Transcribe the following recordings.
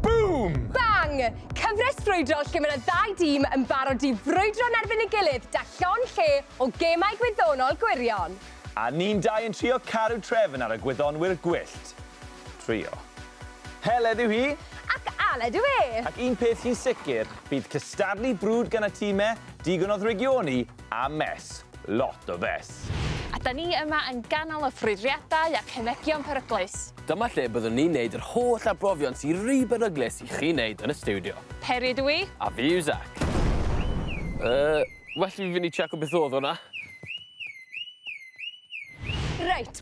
Boom! Bang! Cyfres brwydro lle mae yna ddau dîm yn barod i frwydro yn erbyn ei gilydd da llon lle o gemau gwyddonol gwirion. A ni'n dau yn trio caru trefn ar y gwyddonwyr gwyllt. Trio. Heledd yw hi! Ac Aled yw e! Ac un peth sy'n sicr, bydd cystadlu brwd gan y time digon o ddrygioni a mess. Lot o fess! A 'da ni yma yn ganol y ffrwydriadau a cemegion peryglus! Dyma lle byddwn ni'n neud yr holl arbrofion sy ry beryglus i chi neud yn y stiwdio. Peri ydw i. A fi yw Zac. Yy, well i fi fynd i tseco beth odd hwnna. Reit,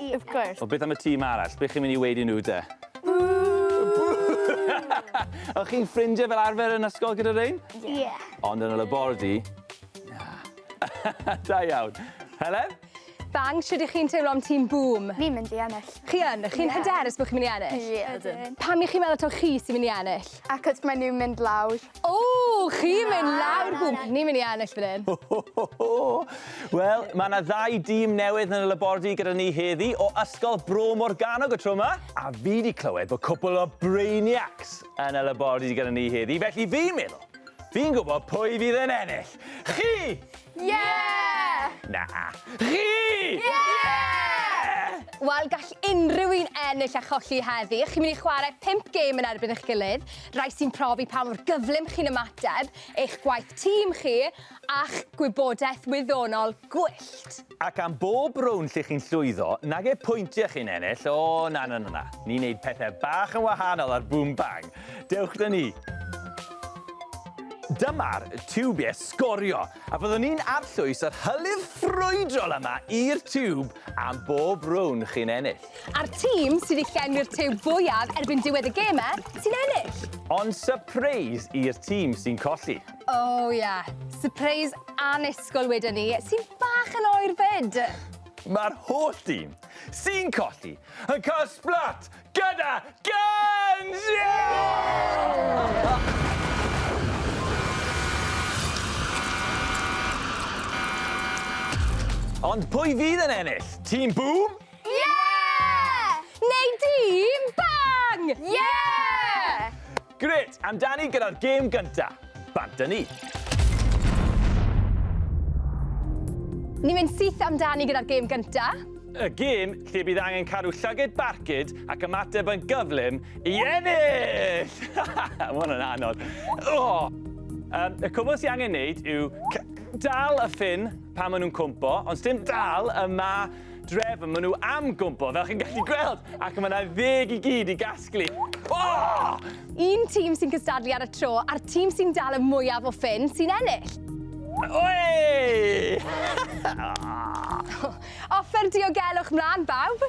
Ie, of course. Wel, beth am y tîm arall? Be chi'n mynd i weud i nhw de? Bŵ! O'ch chi'n ffrindiau fel arfer yn ysgol gyda rhein? Ie. Ond yn y labordy? Na. da iawn. Helen? Bang, sut ych chi'n teimlo am tîm Bŵm? Fi'n mynd i ennill. Chi yn? Chi'n hyderus bod chi'n mynd i ennill? Ie, ydyn. Pam y'ch chi'n meddwl taw chi sy'n mynd i ennill? Achos maen nhw'n mynd lawr. Ww, chi'n mynd lawr gwmp. Ni'n mynd i ennill fan hyn. Wel, mae yna ddau dîm newydd yn y labordy gyda ni heddi o Ysgol Bro Morgannwg y tro yma. A fi wedi clywed bod cwpl o brainiacs yn y labordy gyda ni heddi, felly fi'n meddwl, fi'n gwybod pwy fydd yn ennill. Chi! Yeah! Na. Chi! Yeah! Wel, gall unrhyw un ennill a cholli heddi. Chi'n mynd i chwarae pimp gêm yn erbyn eich gilydd, rai sy'n profi pa mor gyflym chi'n ymateb, eich gwaith tîm chi, a'ch gwybodaeth wyddonol gwyllt. Ac am bob rownd lle chi'n llwyddo, nage pwyntiau chi'n ennill, o na na na na, ni'n neud pethau bach yn wahanol ar Boom Bang. Dewch 'da ni! Dyma'r tiwb i'r sgorio, a byddwn ni'n arllwys yr hylif ffrwydrol yma i'r tiwb am bob rownd chi'n ennill. A'r tîm sydd wedi llenwi'r tiwb fwyaf erbyn diwedd y gemau sy'n ennill. Ond sypreis i'r tîm sy'n colli. O oh, ie, yeah. sypreis annisgwyl wedyn ni, sy'n bach yn oer fyd. Mae'r holl dîm sy'n colli yn cael splat Gyda Guns! Yeah! Ond pwy fydd yn ennill? Tîm Bŵm? Ie! Neu Dîm Bang? Ie! Grêt! Amdani gyda'r gêm gynta. Bant â ni! Ni'n mynd syth amdani gyda'r gêm gynta. Y gêm lle bydd angen cadw llyged barcud ac ymateb yn gyflym i ennill! Mae hwn yn anodd. Oh! Um, y cwbl sy'n angen neud yw dal y ffin pan maen nhw'n cwmpo, ond sdim dal y ma drefn maen nhw am gwmpo, fel chi'n gallu gweld, ac mae yna ddeg i gyd i gasglu. Oh! Un tîm sy'n cystadlu ar y tro, a'r tîm sy'n dal y mwyaf o ffyn sy'n ennill. Oi! Offer diogelwch mlaen, bawb!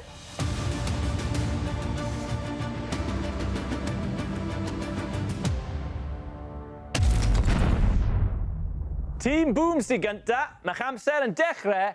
Tîm Boomsy gynta, mae'ch amser yn dechrau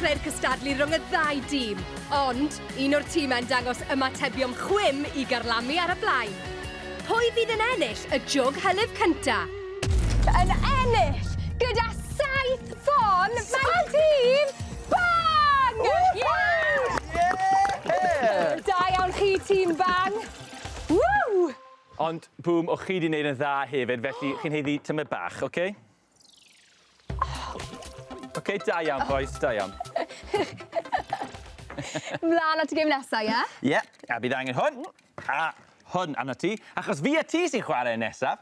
dechrau'r cystadlu rhwng y ddau dîm, ond un o'r tîmau'n dangos ymatebion chwim i garlamu ar y blaen. Pwy fydd yn ennill y jwg hylif cynta? Yn ennill gyda saith ffon mae tîm Bang! Da iawn chi, tîm Bang. Ww! Ond, Bŵm, o' chi 'di neud yn dda hefyd, felly chi'n haeddu tymed bach, oce? Oce, da iawn, bois, da iawn. Mlan at y gêm nesa, ie? Ie, a bydd angen hwn, a hwn arnot ti, achos fi a ti sy'n chware nesaf.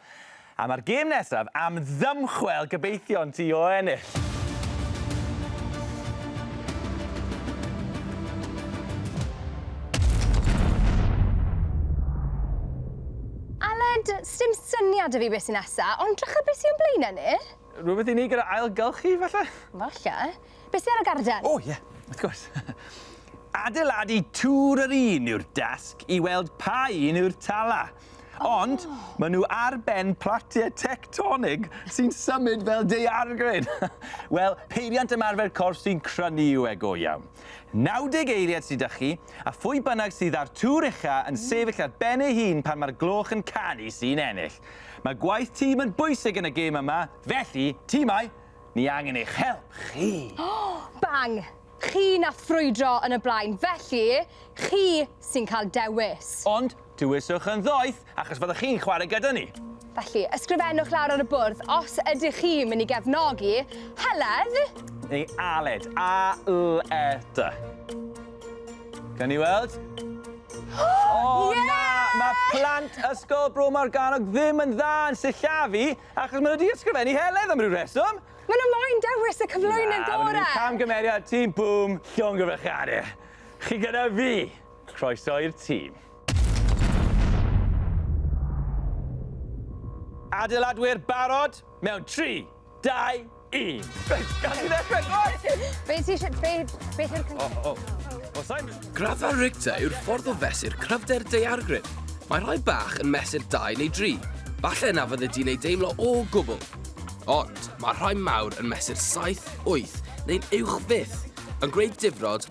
A mae'r gêm nesaf am ddymchwel gobeithion ti o ennill! Aled, sdim syniad 'da fi beth sy nesa, ond drycha beth sy o'n blaene ni. Rhywbeth i ni gyda ailgylchu, falle? Falle. Beth sy ar y garden? O, ie, wrth gwrs. Adeiladu tŵr yr un yw'r dasg i weld pa un yw'r tala. Ond maen nhw ar ben platiau tectonig sy'n symud fel daeargryn. Wel, peiriant ymarfer corff sy'n crynu yw e go iawn. 90 eiliad sydd 'da chi, a phwy bynnag sydd â'r tŵr ucha yn sefyll ar ben ei hun pan mae'r gloch yn canu sy'n ennill. Mae gwaith tîm yn bwysig yn y gêm yma, felly, timau, ni angen eich help chi! Bang! Chi nath frwydro yn y blaen, felly, chi sy'n cael dewis. Ond, Dewiswch yn ddoeth achos fyddwch chi'n chwarae gyda ni. Felly, ysgrifennwch lawr ar y bwrdd os ydych chi'n mynd i gefnogi Heledd. Neu Aled. A-l-e-d. Gawn ni weld? O, Ie! na! Mae plant Ysgol Bro Morgannwg ddim yn dda yn sillafu achos maen nhw wedi ysgrifennu Heledd am ryw reswm. Maen nhw moyn dewis y cyflwynydd gorau! Na, maen nhw wedi camgymeriad tîm Bŵm llongyfarchiadau. Chi gyda fi! Croeso i'r tîm. Adeiladwyr barod mewn 3, 2, 1. Reit, gad i ddechrau, go on! Be ti eisiau, be, beth yw'r cynllun? O, o. Os I'm... Graddfa Richter yw'r ffordd o fesur cryfder daeargryn. Mae rhai bach yn mesur 2 neu 3. Falle na fydde di'n ei deimlo o gwbl. Ond mae rhai mawr yn mesur 7, 8 neu'n uwch fyth, yn gwneud difrod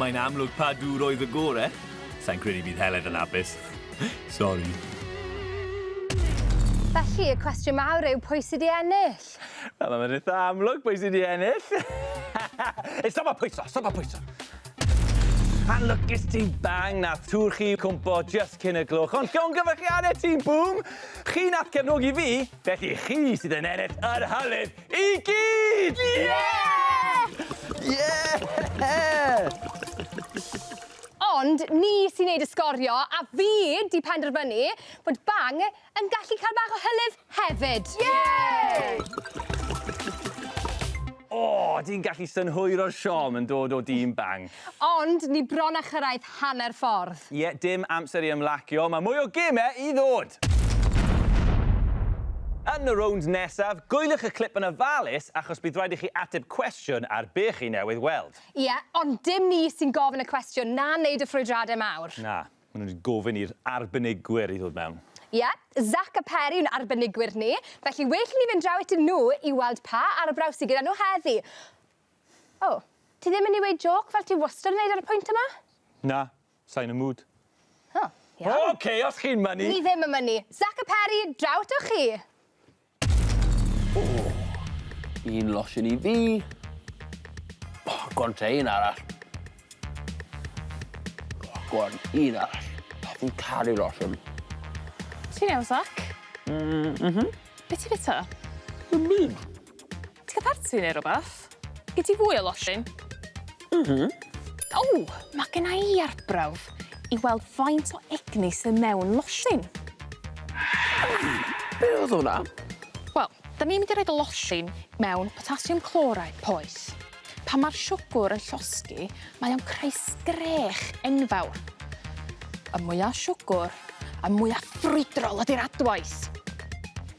Mae'n amlwg pa dŵr oedd y gore. Sa'n credu bydd Heledd yn apus. Sori. Felly, y cwestiwn mawr yw pwy sydd i ennill? Wel, mae'n eitha amlwg pwy sydd i ennill. Ei, stop a pwyso, stop a pwyso. Anlwcus ti bang, nath tŵr chi cwmpo just cyn y gloch, ond llongyfarchiadau ti, boom! Chi nath cefnogi fi, felly chi sydd yn ennill yr hylif! I gyd! Ie! Ie! Ond ni sy'n neud y sgorio, a fi 'di penderfynu bod Bang yn gallu cael bach o hylif hefyd. Ie! O, di'n gallu synhwyro'r siom yn dod o dîm Bang. Ond ni bron a chyrraedd hanner ffordd. Ie, dim amser i ymlacio, mae mwy o gemau i ddod! Yn y rownd nesaf, gwyliwch y clip yn ofalus achos bydd rhaid i chi ateb cwestiwn ar be chi newydd weld. Ie, ond dim ni sy'n gofyn y cwestiwn na wneud y ffrwydradau mawr. Na, maen nhw wedi gofyn i'r arbenigwyr i ddod mewn. Ie, Zac a Peri yw'n arbenigwyr ni, felly well i ni fynd draw atyn nhw i weld pa arbrawf sy gyda nhw heddi. O! Ti ddim yn i weud jôc fel ti wastad yn neud ar y pwynt yma? Na, sai'n y mood. O, iawn. Ok, os chi'n mynnu. Ni ddim yn mynnu. Zac a Peri, draw atoch chi! O! Un losin i fi. O, go on te, un arall. O, go on, un arall. O, fi'n caru losin. Ti'n iawn, Zac? Mm, mhm. Be' ti fita? Dim byd. Ti ca'l parti ne' rwbath? Gei ti fwy o losin? M-hm. O! Ma' genna i arbrawf i weld faint o egni sy mewn losin. Be' odd wnna? Wel, 'dan ni'n mynd i roid y losin mewn potassium chloride poeth. Pan ma'r siwgwr yn llosgi, mae o'n creu sgrech enfawr. Y mwya siwgwr, y mwya ffrwydrol ydi'r adwaith.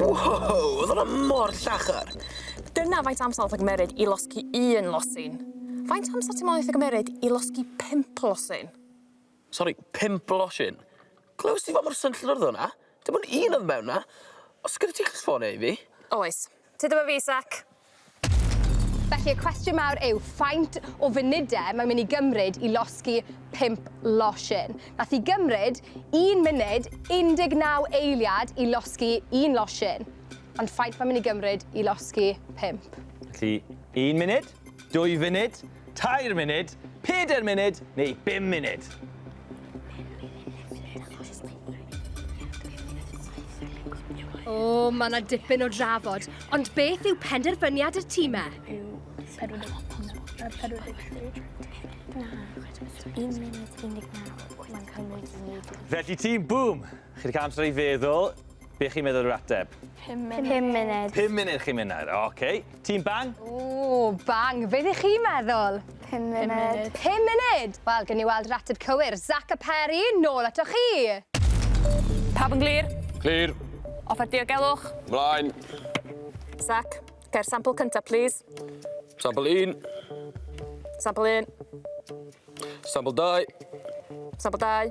Wow, oedd hwnna mor llachar! Dyna faint o amser oedd o'n cymmeryd i losgi un losin. Faint o amser ti'n meddwl neith e gymeryd i losgi pump losin? Sori, pump losin? Clywes ti fa mor swnllyd oedd hwnna? Dim ond un oedd mewn 'na. O's gyda ti ffôn e i fi? Oes. Tyd efo fi sec. Felly y cwestiwn mawr yw faint o funude mae'n mynd i gymryd i losgi pump losin? Nath i gymryd un munud 19 eiliad i losgi un losin. Ond faint mae'n mynd i gymryd i losgi pump? Felly, un munud? Dwy funud, tair munud, peder munud neu bum munud. O, mae yna dipyn o drafod. Ond beth yw penderfyniad y tîmau? Felly tîm Boom, Chi 'di ca'l amser i feddwl, be' chi'n meddwl yw'r ateb? Pum munud. Pum munud. Pum munud chi'n myn' nawr, oce. Tîm Bang? Ww, Bang, be' 'dych chi'n meddwl? Pum munud. Pum munud. Pum munud! Wel, gewn ni weld yr ateb cywir. Zac a Peri, nôl atoch chi. Pawb yn glir? Clir. Offer diogelwch? Mlaen. Zac, cau'r sampl cynta, plîs. Sampl un. Sampl un. Sampl dau. Sampl dau.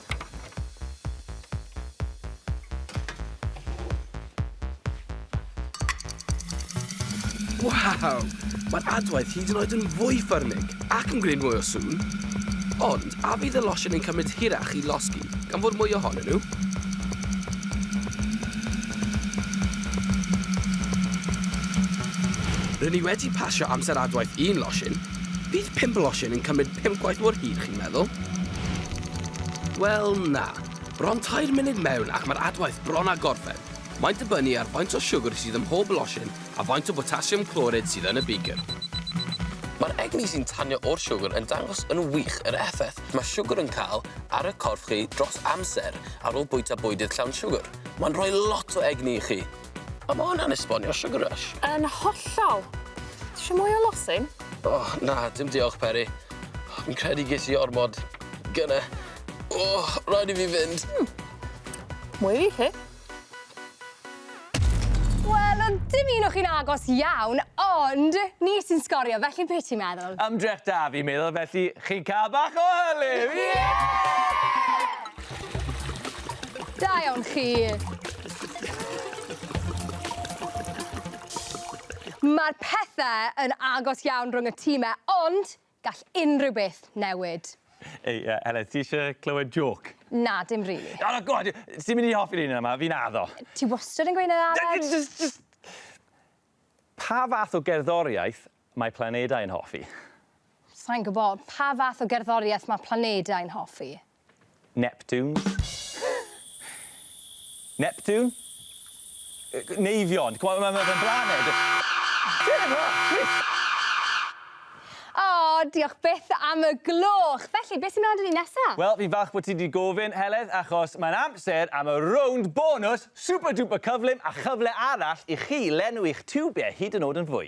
Waw! Mae'r adwaith hyd yn oed yn fwy ffyrnig ac yn gwneud mwy o sŵn. Ond, a fydd y losion yn cymryd hirach i losgi gan fod mwy ohonyn nhw? Rydyn ni wedi pasio amser adwaith un losin. Bydd pimp losin yn cymryd Ddim cweit mor hir, chi'n meddwl? Wel, na. Bron tair munud mewn ac mae'r adwaith bron â gorffen. Mae'n dibynnu ar faint o siwgr sydd ym mhob losin a faint o botasiwm clorid sydd yn y beaker. Mae'r egni sy'n tanio o'r siwgr yn dangos yn wych yr effaith mae siwgr yn cael ar y corff chi dros amser ar ôl bwyta bwydydd llawn siwgr. Mae'n rhoi lot o egni i chi. O ma' hwnna'n esbonio sugar rush. Yn hollol. Tisio mwy o losin? O na dim diolch Peri. Fi'n credu ges i ormod gynne. O raid i fi fynd. Hmm. Mwy i chi. Wel o'dd dim un o chi'n agos iawn ond ni sy'n sgorio felly be' ti'n meddwl? Ymdrech da fi'n meddwl felly chi'n ca'l bach o hylif. Ie! Da iawn chi. Mae'r pethau yn agos iawn rhwng y time, ond gall unrhyw beth newid. Ei, uh, Helen, ti eisiau clywed joc? Na, dim rili. Really. Oh, god, ti'n mynd i hoffi ni yma, fi'n addo. Ti wastad yn gweud yna, Aled? Just, just... Pa fath o gerddoriaeth mae planedau yn hoffi? Sa'n gwybod, pa fath o gerddoriaeth mae planedau yn hoffi? Neptune. Neptune? Neifion. Mae fe'n blaned. O, diolch byth am y gloch. Felly, beth sy'n mynd â ni nesa? Wel, fi'n falch bod ti wedi gofyn, Heledd, achos mae'n amser am y rownd bonws super duper cyflym a chyfle arall i chi lenwi'ch tiwbiau hyd yn oed yn fwy.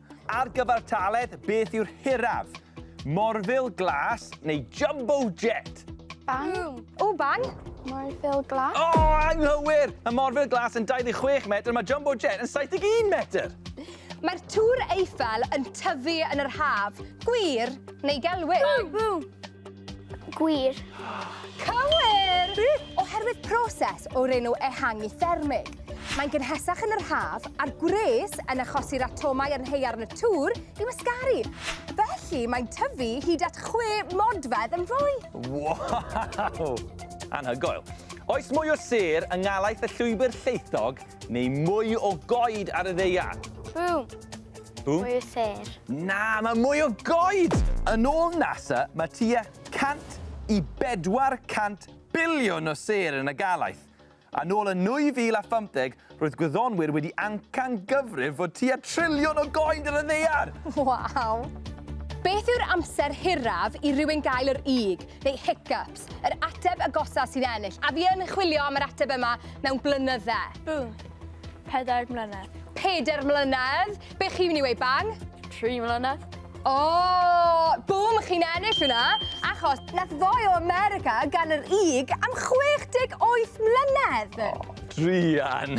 Ar gyfartaledd, beth yw'r hiraf? Morfil glas neu jumbo jet? Bang. O, bang! Morfil glas. O, oh, anghywir! Mae morfil glas yn 26 metr, mae jumbo jet yn 71 metr. Mae'r tŵr Eiffel yn tyfu yn yr haf. Gwir neu gelwydd? Bw! Bw! Gwir. Cywir! Oherwydd proses o'r enw ehangu thermig. Mae'n gynhesach yn yr haf a'r gwres yn achosi'r atomau yn heiarn y tŵr i wasgaru. Felly mae'n tyfu hyd at chwe modfedd yn fwy. Wow! Anhygoel. Oes mwy o sêr yng ngalaeth y llwybr llaethog neu mwy o goed ar y ddaear? Bŵm! Ww. Mwy o sêr. Na, mae mwy o goed! Yn ôl NASA, mae tua 100 i 400 biliwn o sêr yn y galaeth. A nôl yn 2050, roedd gwyddonwyr wedi ancan gyfrif fod tua triliwn o goed yn y ddaear! Waw! Beth yw'r amser hiraf i rywun gael yr ug, neu hiccups? Beth? Yr ateb agosa sy'n ennill. A fi yn chwilio am yr ateb yma mewn blynydde. Bwng. Pedair mlynedd. Pedair mlynedd. Be chi'n mynd i weud, Bang? Tri mlynedd. O! Oh, bwm, chi'n ennill hwnna, achos nath foi o America gan yr ug am 68 mlynedd. Oh. Drian.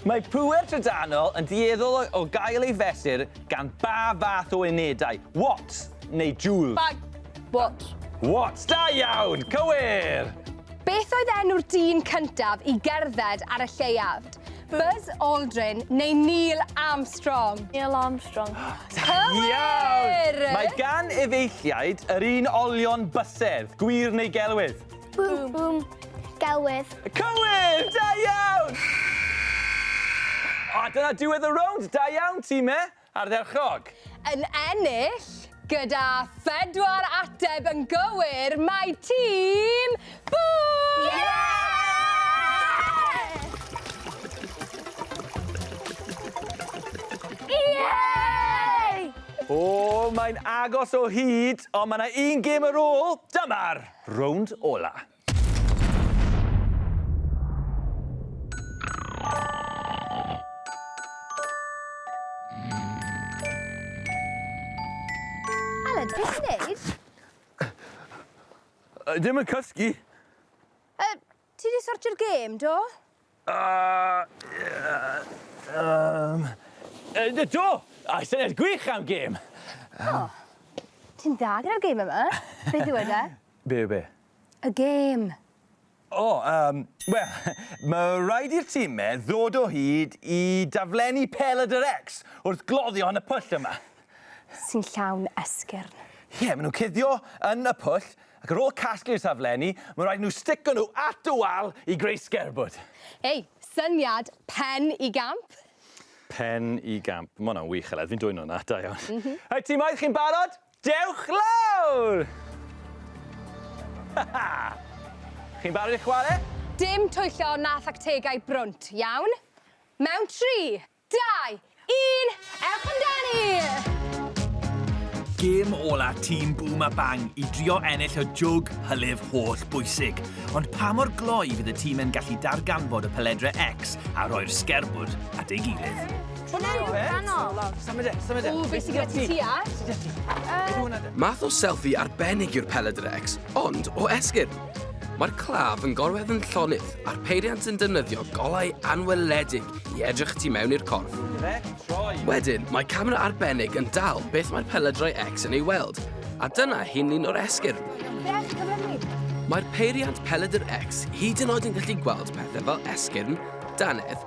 Mae pŵer trydanol yn dieddol o, o gael ei fesur gan ba fath o unedau, watts neu joules? Bag. What? What! Da iawn! Cywir! Beth oedd enw'r dyn cyntaf i gerdded ar y lleiafd? Buzz Aldrin neu Neil Armstrong? Neil Armstrong. Cywir! Mae gan efeilliaid yr un olion bysedd, gwir neu gelwydd? Bwm, bwm, gelwydd. Cywir! Da iawn! A dyna diwedd y rownd, da iawn, time! Ardderchog! Yn ennill, gyda phedwar ateb yn gywir, mae tîm Bŵm! O, mae'n agos o hyd, ond mae 'na un gêm ar ôl. Dyma'r rownd ola. Ddim yn cysgu. Yy, ti di sortio'r gêm, do? Yym. Yy do! A'i syniad gwych am gêm! O! Ti'n dda gyda'r gêm yma. Beth yw e de? Be' yw be'? Y gêm. O yym wel ma' raid i'r time ddod o hyd i daflenni Peled yr Ecs wrth gloddio yn y pwll yma. Sy'n llawn esgyrn. Ie ma' nw'n cuddio yn y pwll Ac ar ôl casglu'r taflenni, mae'n rhaid i nhw sticio nhw at y wal i greu sgerbwd. Hei, syniad pen i gamp! Pen i gamp. Mae hwnna'n wych, Aled. Fi'n dwyn hwnna. Da iawn. Mm -hmm. Hei, ti'n moedd? Chi'n barod? Dewch lawr! Chi'n barod i chwarae? Dim twyllo na thactegau brwnt, iawn? Mewn tri! Dau! Un! Ewch amdani! Gêm ola tîm Bŵm a Bang i drio ennill y jwg hylif holl bwysig. Ond pa mor gloi fydd y tîm yn gallu darganfod y peledre X a rhoi'r sgerbwd at ei gilydd? Math o selfie arbennig yw'r peledre X, ond o esgyrn. Mae'r claf yn gorwedd yn llonydd a'r peiriant yn defnyddio golau anweledig i edrych tu mewn i'r corff. Wedyn, mae camera arbennig yn dal beth mae'r pelydrau X yn ei weld, a dyna hi'n un o'r esgyrn. Mae'r peiriant pelydr X hyd yn oed yn gallu gweld pethau fel esgyrn, dannedd,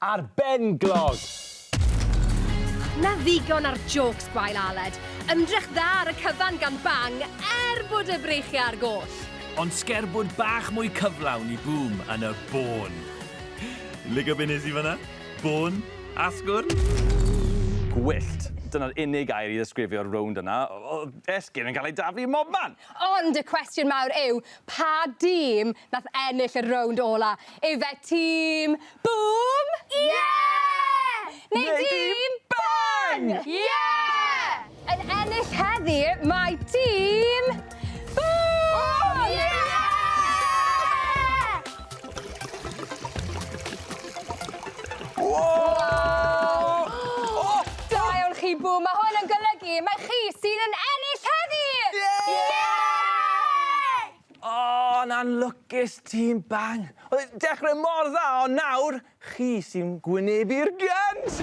Ar ben glog! Na ddigon ar jôcs gwael Aled. Ymdrech dda ar y cyfan gan Bang, er bod y breichiau ar goll. Ond sgerbwd bach mwy cyflawn i Boom yn y bôn. Lico be nes i fanna? Bôn? Asgwrn? Gwyllt. Dyna'r unig air i ddesgrifio'r rownd yna. Oedd esgyrn yn cael ei daflu ym mhobman! Ond y cwestiwn mawr yw, Pa dîm nath ennill y rownd ola? Ife tîm Bŵm? Ie! Neu dîm Bang? Ie! Yn ennill heddi mae tîm Bŵm! Ie! Woah! O! Da iawn chi Bŵm, ma' hwn yn golygu mai chi sydd yn ennill heddi! Iei! O, 'na'n lwcus tîm Bang. Oedd e'n dechre mor dda ond nawr, Chi sy'n gwynebu'r gant!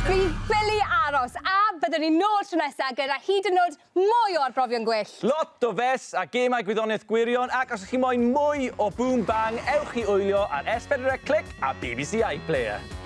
Dwi'n ffili aros, a byddwn ni nôl tro nesa gyda hyd yn o'd mwy o arbrofion gwyllt! Lot o fes a gemau gwyddoniaeth gwirion ac os 'ych chi moyn mwy o Boom Bang ewch i wylio ar S4C a bbc iPlayer.